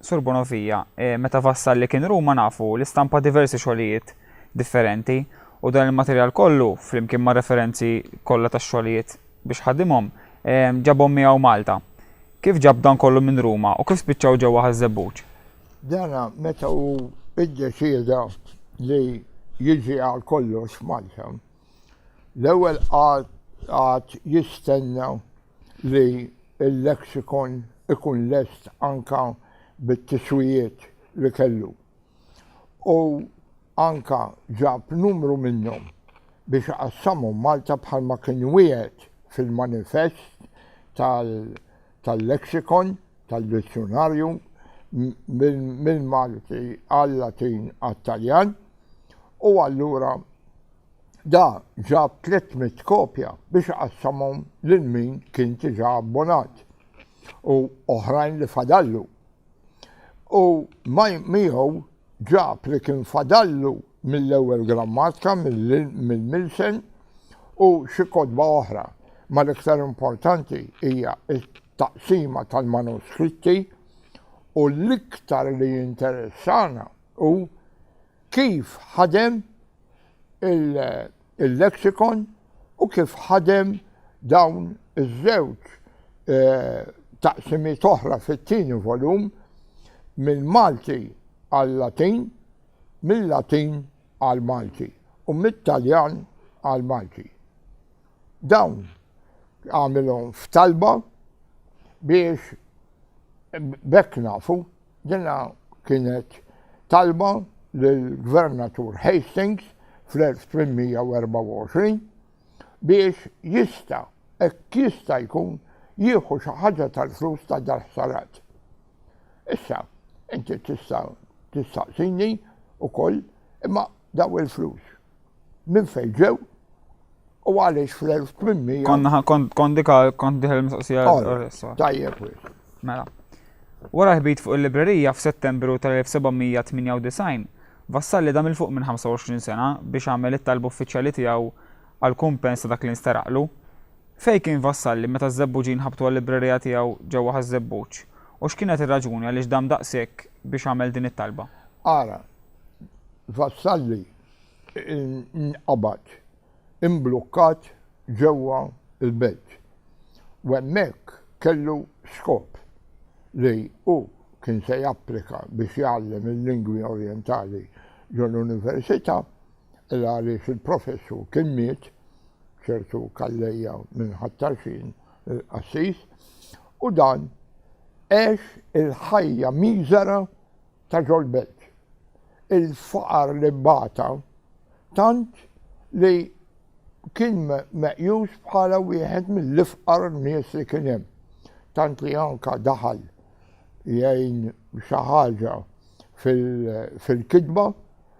Sur Bonavia, meta vassal li kien Ruma nafu li stampa diversi xogħlijiet differenti u dan il-materjal kollu, flimkien mar-referenzi kollha tax-xogħlijiet biex ħadimhom, ġabhom miegħu Malta. Kif ġab dan kollu minn Ruma u kif spiċċaw ġewwa Ħaż-Żebbuġ? Dan meta hu iddeċieda li jiġi għal kollox Malta. L-ewwel għad jistenna li l-lexicon ikun lest anke bit-tiswijiet li kellu u anke ġab numru minnhom biex iqassamhom Malta bħalma kien wiegħed fil-manifest tal-lexicon, tad-dizzjunarju mill-Malti għal-Latin għat-Taljan u allura Da ġab 300 kopja biex iqassamhom lil min kien diġà abbonat u oħrajn li fadallu. U miegħu ġab li kien fadallu mill-ewwel grammatka mill-Milsen u xi kotba oħra, ma l-iktar importanti hija t-taqsima tal-manuskritti u l-iktar li jinteressana hu Kif ħadem il-lexicon u kif ħadem dawn iż-żewġ eh, taqsimiet oħra fit-tieni volum mill-Malti għal-Latin, mill-Latin għal-Malti u mit-Taljan għal-Malti. Dawn għamilhom f'talba biex bekk nafu Dinha kienet talba lill-Gvernatur Hastings fl-1824 biex jista' hekk jista' jkun jieħu xi ħaġa tal-flus ta' dal-ħsarat. Issa, inti tista' tistaqsini wkoll imma Dawn il-flus minn fejn ġew u għaliex fl-1800. Konna kont dika kont diħel mistoqsija. Tajjeb. Mela. Wara ħbit fuq il-librerija f'Settembru tal-1798, Vassalli dam il-fuq minn 25 sena biex għamel it-talb uffiċjali tiegħu għal kumpens ta' dak li nsteraqlu. Fej kien Vassalli meta z-zebbuġin ħabtu għal-librerija tiegħu ġewwa ħaż-zebbuġ u x'kienet ir-raġuni għaliex dam daqshekk biex għamel din it-talba? Ara, Vassalli nqabad imblukkat ġewwa l-belt u hemmhekk kellu skop li hu kien se japplika biex jgħallem il-lingwi orjentali ġo l-università illa għaliex il-professur kien miet, ċertu Calleja minn Ħat-Tarxien, il-qassis, u dan għex il-ħajja miżera ta' John Belt. Il-faqar li bata tant li kien meqjus bħala wieħed mill-ifqar nies li kien hemm. Tant li anka daħal jgħin xi ħaġa fil-kitba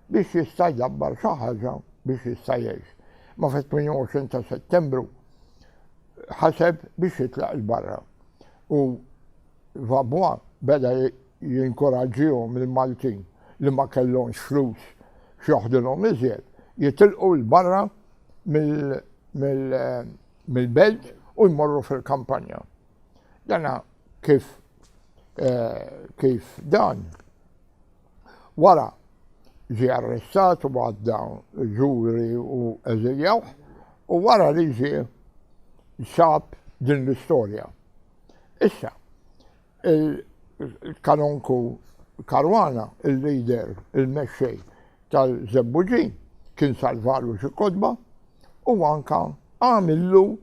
biex jista' jgħabbar xi ħaġa biex jista' jgħix. Ma fit-28 ta' Settembru ħaseb biex jitlaq il-barra. U Vabwa beda jinkoraġġihom lill-Maltin li ma kellhomx flus x'joħdulhom iżjed, jitilqu 'l barra mill-belt u jmorru fil-kampanja. Dana kif kif dan wara ġie arrestat u għadda ġuri u eżiljawh u wara li ġie sab din l-istorja. Issa, Il-Kanonku Caruana, il-leader, il-mexxej tal-Żebbuġin, kien salvalu xi kotba u anke għamillu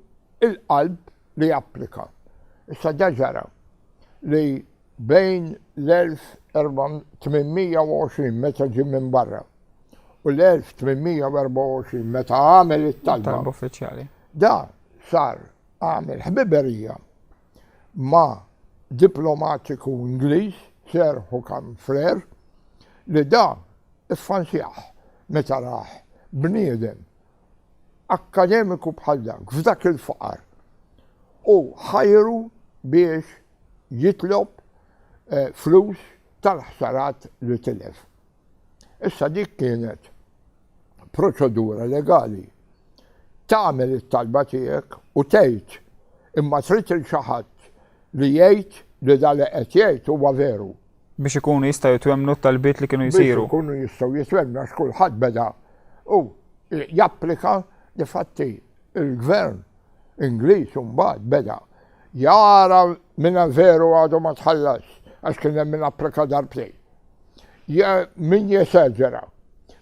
l-qalb li japplika. Issa da ġara li bejn l-1820 meta ġie minn barra u l-1824 meta għamel it-talba, da sar għamel ħbiberija ma' diplomatiku Ingliż, Sir Hookham Frere, li dan iffansjah meta rah bniedem akkademiku bħal dak f'dak il-faqar u ħajru biex jitlob flus tal-ħsarat li tilef. Issa dik kienet proċedura legali. Tagħmel it-talba tiegħek u tgħid imma trid il xi ħadd li jgħid li da li qed jgħid huwa veru. Biex ikunu jistgħu jitwemmnu t-talbiet li kienu jsiru. Biex ikunu jistgħu jitwemmnu għax kulħadd beda u japplika li fatti Il-Gvern Ingliż imbagħad beda jara min veru għadu ma tħallasx għax kien hemm min applika darbtejn. Min jeseġera,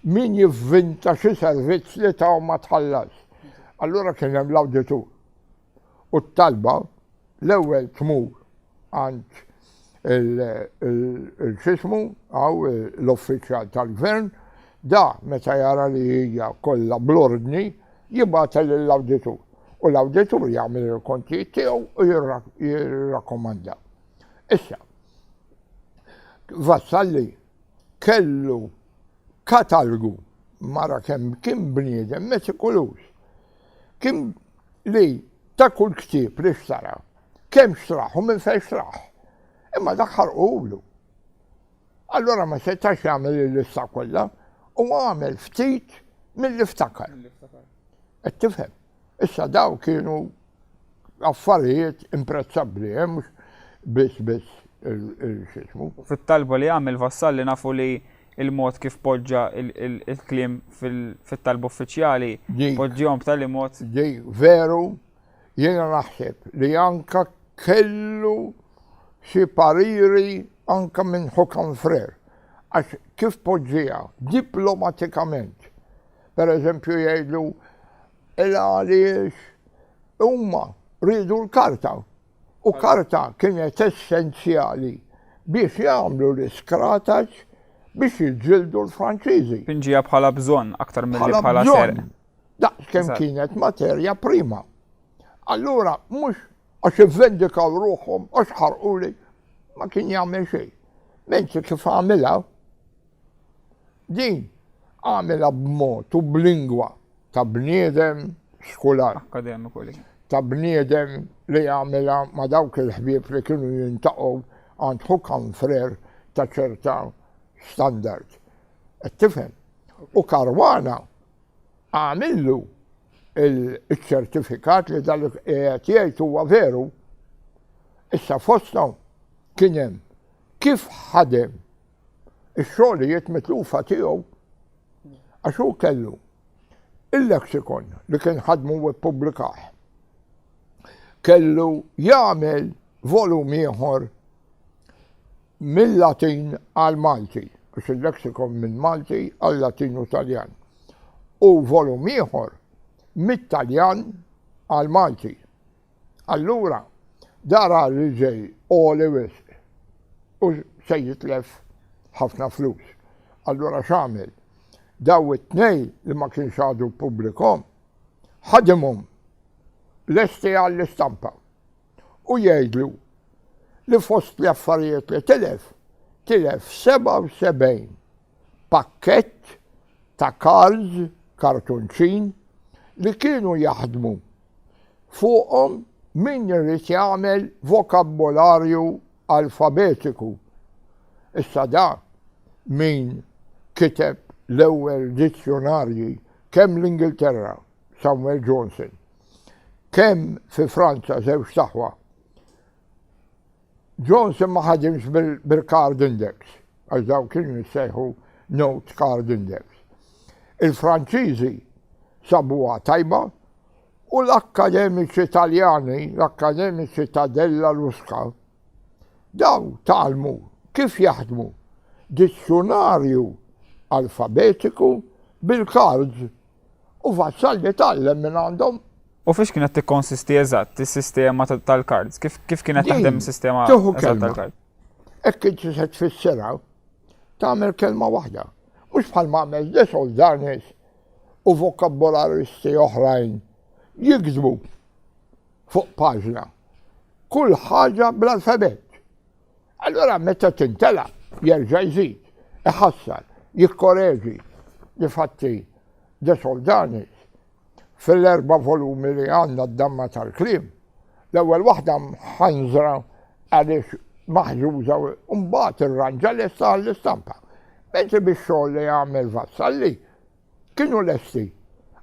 min jivvinta xi servizz li taw ma tħallasx. Allura kien hemm l-awditur. U t-talba l-ewwel tmur għand il-xismu għaw l-uffiċjal tal-gvern, da meta jara li hija kollha bl-ordni jibgħatha lill-awditur u l-awditur jagħmel il-kontijiet tiegħu u jirrakkomanda. Issa, Vassalli kellu katalgu mara kemm kien bniedem metikulus. Kien li ta' kull ktieb li xtara kemm xtraħ u minn fejn xtraħ. Imma dak ħarqulu. Allura ma setax jagħmel il-lista kollha u għamel ftit mill-li ftakar. Qed tifhem. Issa daw kienu affarijiet imprezzabbli, eh, mhux biss biss il-xismu. Fit-talba li għamil vassal li nafu li il-mod kif poġġa il-klim fit-talba uffiċjali, poġġihom b'tali mod. Ġej, veru, Jiena naħseb li anke kellu xi pariri anke minn Hokan Frer għax kif poġġieha diplomatikament. Per eżempju jgħidlu ela għaliex huma riedu l-karta u karta kienet essenzjali biex jagħmlu l-iskrataġġ biex jiġġieldu l-Franċiżi. Pinġieha bħala bżonn aktar milli bħala serq. Daqs kemm kienet materja prima. Allura mhux għax ivvendikaw ruħhom għax ħarquli ma kien jagħmel xejn. Menzi kif għamilha din għamilha b'mod u b'lingwa ta' bniedem skular. Akademiku li. Ta' bniedem li għamilha ma' dawk il-ħbieb li kienu jintaqgħu għand ħukam frer ta' ċerta standard. Qed tifhem? U karwana Agħmillu l-ċertifikat li dak li qiegħed jgħid huwa veru. Issa fosthom kien hemm kif ħadem ix-xogħlijiet mitlufa tiegħu għax hu kellu il-lexikon li kien ħadmu u ppubblikah. Kellu jagħmel volum ieħor Mil-Latin għall-Malti, għax il-lexikon minn Malti għal-Latin u Taljan, u volum ieħor mit-Taljan għall-Malti. Allura, dar għar-riġej għoli wisq u se jitlef ħafna flus. Allura x'għamel? Daw it-tnejn li ma kienx għadu pubblikom, ħadimhom lesti għall-istampa. u jgħidlu li fost l-affarijiet li tilef, tilef 77 pakkett ta' cards, kartunċin, li kienu jaħdmu fuqhom min irid jagħmel vokabbolarju alfabetiku. Issa da min kiteb l-ewwel dizzjunarji kemm l-Ingilterra Samuel Johnson. Kemm fi Franza żewġt aħwa. Johnson ma ħadimx bil-card index, għax daw kienu jissejħu note card index. Il-Franċiżi sabuha tajba u l-akkademiċi Taljani, l-akkademiċi ta' Della Luska, daw talmu kif jaħdmu dizzjonarju alfabetiku bil-kards U Vassalli tgħallem minn għandhom. U fiex kienet tikkonsisti eżatt is-sistema tal-kards? Kif kif kienet taħdem is-sistema eżatt tal-kards? Hekk inti se tfissirha tagħmel kelma waħda. Mhux bħal ma għamel desol darnis u vokabolaristi oħrajn jikdbu fuq paġna. Kull ħaġa bl-alfabet. Allura meta tintela' jerġa' jżid, iħassar, jikkoreġi li fatti De Soldanis, fil-erba' volumi li għandna d-damma tal-kliem, l-ewwel waħda mħanżra għaliex maħżuża u mbagħad irranġa lesta għall-istampa. Mentri bix-xogħol li għamel Vassalli, Kienu lesti,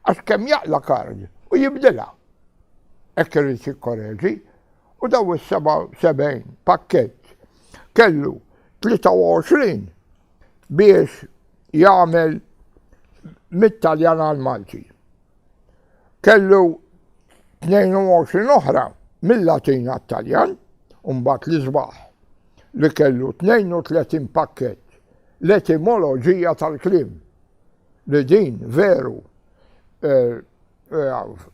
għax kemm jaqla' kard u jibdilha. Hekk irid jikkoreġi, u dawn is-77 pakkett kellu 23 biex jagħmel mit-Taljan għall-Malti. Kellu 22 oħra mill-Latin għat-Taljan, u mbagħad l-isbaħ li kellu 32 pakkett l-etimoloġija tal-kliem. li din veru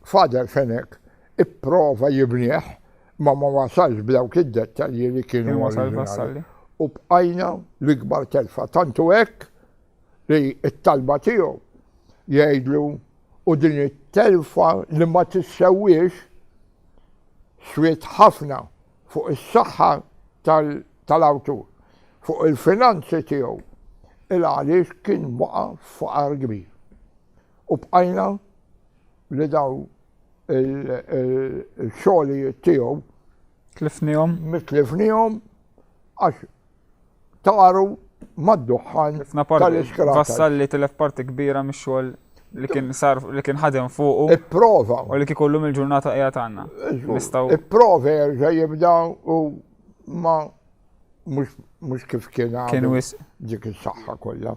Father Fenech ipprova jibnieh imma ma wasalx b'dawk id-dettalji li kienu oriġinali. U bqajna l-ikbar telfa. Tantu hekk li t-talba tiegħu jgħidlu u din it-telfa li ma tissewwiex swiet ħafna fuq is-saħħa tal-awtur, fuq il-finanzi tiegħu, il-għaliex kien waqa' f'faqar kbir. U bqajna li daw il-xogħlijiet tiegħu. Tlifnihom? Mitlifnihom għax taru mad-duħħan tal-iskrat. Vassal li tilef parti kbira mix-xogħol li kien sar li kien ħadem fuqu. Ipprova. U li kien kollum il-ġurnata qiegħed għandna. Nistgħu. Ipprova jerġa' jibda u ma mhux kif kien Kien wis. Dik is-saħħa kollha.